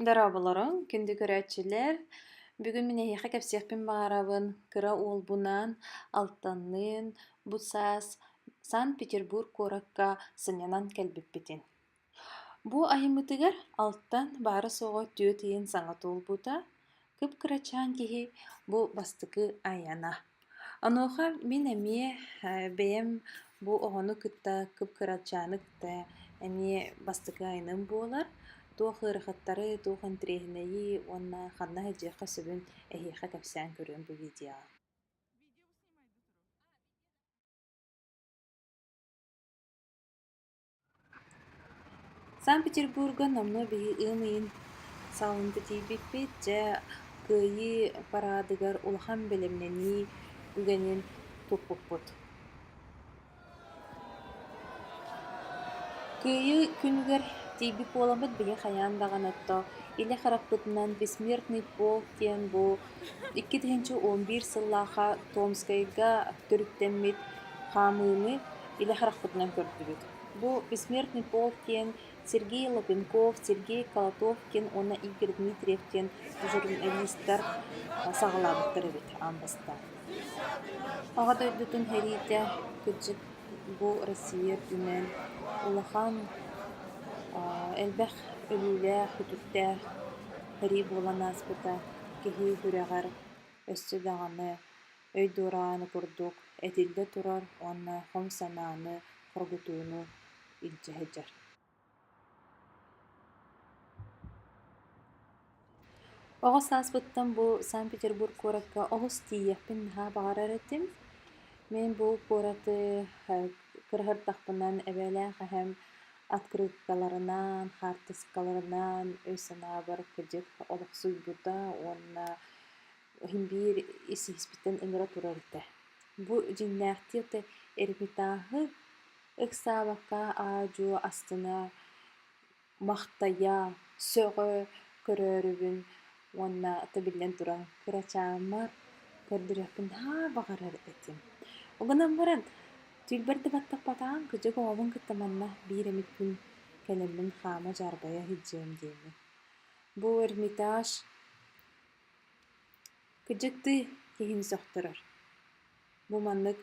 Дорооболоруҥ, күндү көрөөччүлэр. Бүгүн мин эһиэхэ кэпсиэхпин баҕарабын кыра уолбунаан алтанныын бу саас Санкт-Петербург куоракка сынньанан кэлбиппитин. Бу айыммытыгар алтан баара-суоҕа түөрт ыйын саҥа туолбута, Кып-кырачаан киһи бу бастакы айана. Онуоха мин эмиэ бэйэм бу оҕону кытта кып-кырачааны кытта эмиэ бастакы айаным буолар. Туох ыарахаттары, туох интэриэһинэйи уонна ханна иһдиэххэ сөбүн эһиэхэ кэпсээн көрүөм бу видеоҕа. Санкт-Петербурга номнуо биһи ыам ыйын саалында тиийбиппит, дьэ Кыайыы параадыгар улахан бэлэмнэнии үгэнин туппуппут. Кыайыы күнүгэр тиийбит буоламмыт биһи хайаан даҕаны отто илэ хараппытынан «Бессмертный полк» диэн бу Иккитинчи уон биир сыллаахха Томскайга төрүттэммит хаамыыны илэ харахпытынан көрдүбүт. Бу «Бессмертный полк» диэн Сергей Лапенков, Сергей Колотов диэн уонна Игорь Дмитриев диэн журналистар саҕалаабыттар эбит аан бастаан. Аҕа дойдутун сэриитэ кырдьык бу Россия үрдүнэн улахан элбэх өлүүлээх, үтүктээх Сэрии буолан ааспыта киһи күрэҕэр өссө даҕаны өй дуорааны курдук этиллэ турар уонна хом санааны хоргутууну илдьэ сылдьар Оҕус ааспыттан бу Санкт-Петербург куоракка олус тиийиэхпин наһаа баҕарар этим. Мин бу куораты кыра сырдахпынан эбээлээх эһэм открыткаларынан, хаартыскаларынан өй-санаабар кырдьык олохсуйбута уонна иһин биир ис-иһиспиттэн ыҥыра турар этэ. Бу дьиҥнээхтик да эрмитааһы ыксаабакка аа-дьуо астына, махтайа, сөҕө көрөөрүбүн Уонна ата биллэн туран кырачаамма көрдөрүөхпүн наһаа баҕарар этим. Ол гынан баран түүлбэр да баттаппатаҕым кыдьык оҕобун кытта манна биир эмит күн кэлэммин хаама дьаарбайа иһдьиэм диэми. Бу эрмитаж кыдьыктыы киһини сөхтөрөр. Бу маннык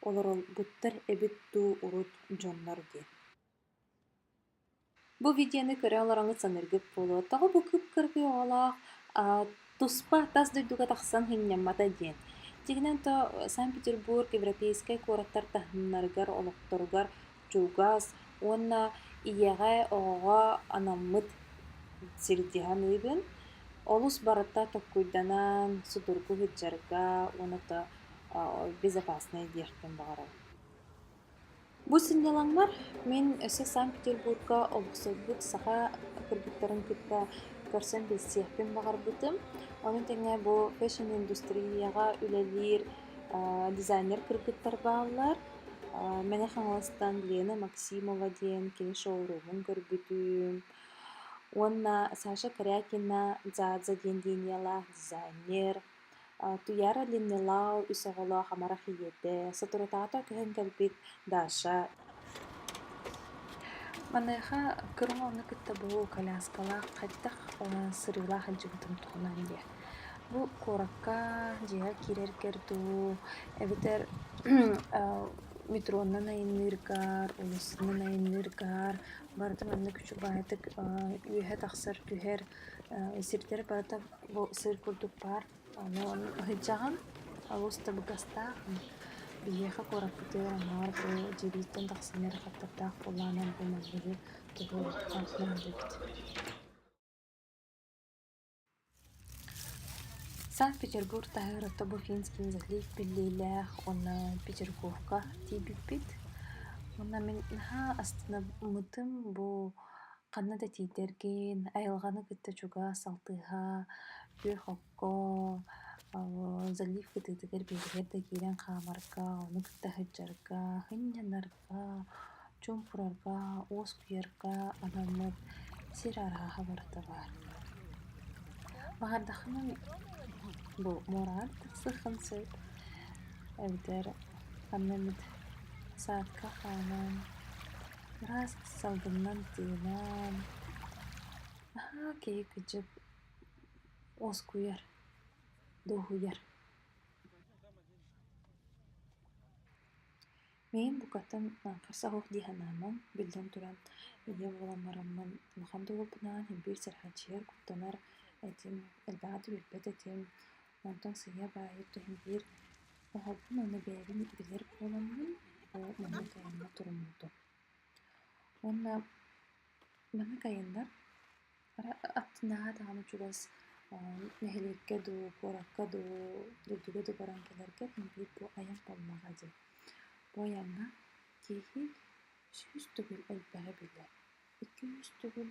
олоролбуттар эбит дуу урут дьоннор диэн Бу видеоны көрө олороҥҥут саныыргыт буолуо, тоҕо бу кып-кыракый оҕолоох аа, туспа тас дойдуга тахсан сынньаммата диэн. Дьиҥинэн то Санкт-Петербург европейскай куораттар таһыннарыгар, олохторугар чугас уонна ийэҕэ, оҕоҕо анаммыт сирдиһэн ыйбын. Олус барыта толкуйданан, судургу сыдьарга уонна то а, безопаснай диэхпин баҕарабын. Бу сынньалаҥмар мин өссө Санкт-Петербурга олохсуйбут саха кыргыттарын кытта көрсөн билсиэхпин баҕарбытым. Ону тэҥэ бу фэшн индустрияҕа үлэлиир дизайнер кыргыттар бааллар. Мэҥэ Хаҥаластан Лена Максимова диэн кини шоуруумун көрбүтүм. Уонна Саша Корякина Дзадза диэн линиялаах дизайнер Туйаара Ленилау үс оҕолоох амарах ийэтэ, соторутаата көһөн кэлбит Даша Маныаха кыраҕы ону кытта бу коляскалаах хайдах сырыылаах илдьибитим туһунан диэ. Бу куоракка дьиэҕэ киирэргэр дуу, эбэтэр метроннан айанныыргар, улуустунан айанныыргар барыта манна күчүк баайытык үөһэ тахсар түһэр сирдэр барыта Бу сыр курдук баар, аны ыһыдьаҕын олус табыгастаах. Биһиэхэ куораппытыгар аҥаар бу дьиэбититтэн тахсан эрэ хаттардаах буоллаҕына бу манныгы тугу оһоххо наадыгыт Санкт-Петербург таһыгар орто бу финские залив биллиилээх, онно Петергофка тиийбиппит. Уонна мин наһаа астынаммытым бу Ханна да тиийдэргин, айылҕаны кытта чугас алтыһа, күөх окко, залив кытыытыгар биэрэһэр да киирэн хаамарга, ону кытта сылдьарга, сынньанарга, чуумпурарга, уоскуйарга анаммыт сир арааһа барыта баар. Баҕардаххына бу муораҕар тахсыаххын сөп эбэтэр ханна эмит саадка хааман Ыраас салгынынан тыынан наһаа киһи кыдьык уоскуйар, дуоһуйар. Миин букатын хаҥас оһох дии санааман, биллэн туран ийэ буолан бараммын улахан да уолбунаан, биир сараадьыйар куттанар этим, элбэҕи да билбэт этим. Онтон сыыйа баайыы түһэн биир оһоҕун уонна бэйэбин билэр буоламмын ол маннык айаҥҥа туруммутум. Уонна маннык айаннар аттынааҕы даҕаны чугас нэһилиэккэ дуу, куоракка дуу, дойдуга дуу баран кэлэргэ диэн биир бу айан буоллаҕа дии. Бу айаҥҥа киһи сүүс төгүл элбэҕи билэр, икки-үс төгүл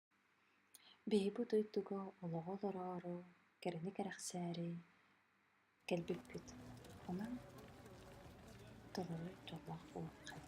Биһи бу дойдуга олоҕу олороору кэрэни кэрэхсээри кэлбиппит. Онон толору дьоллоох буолуоххайт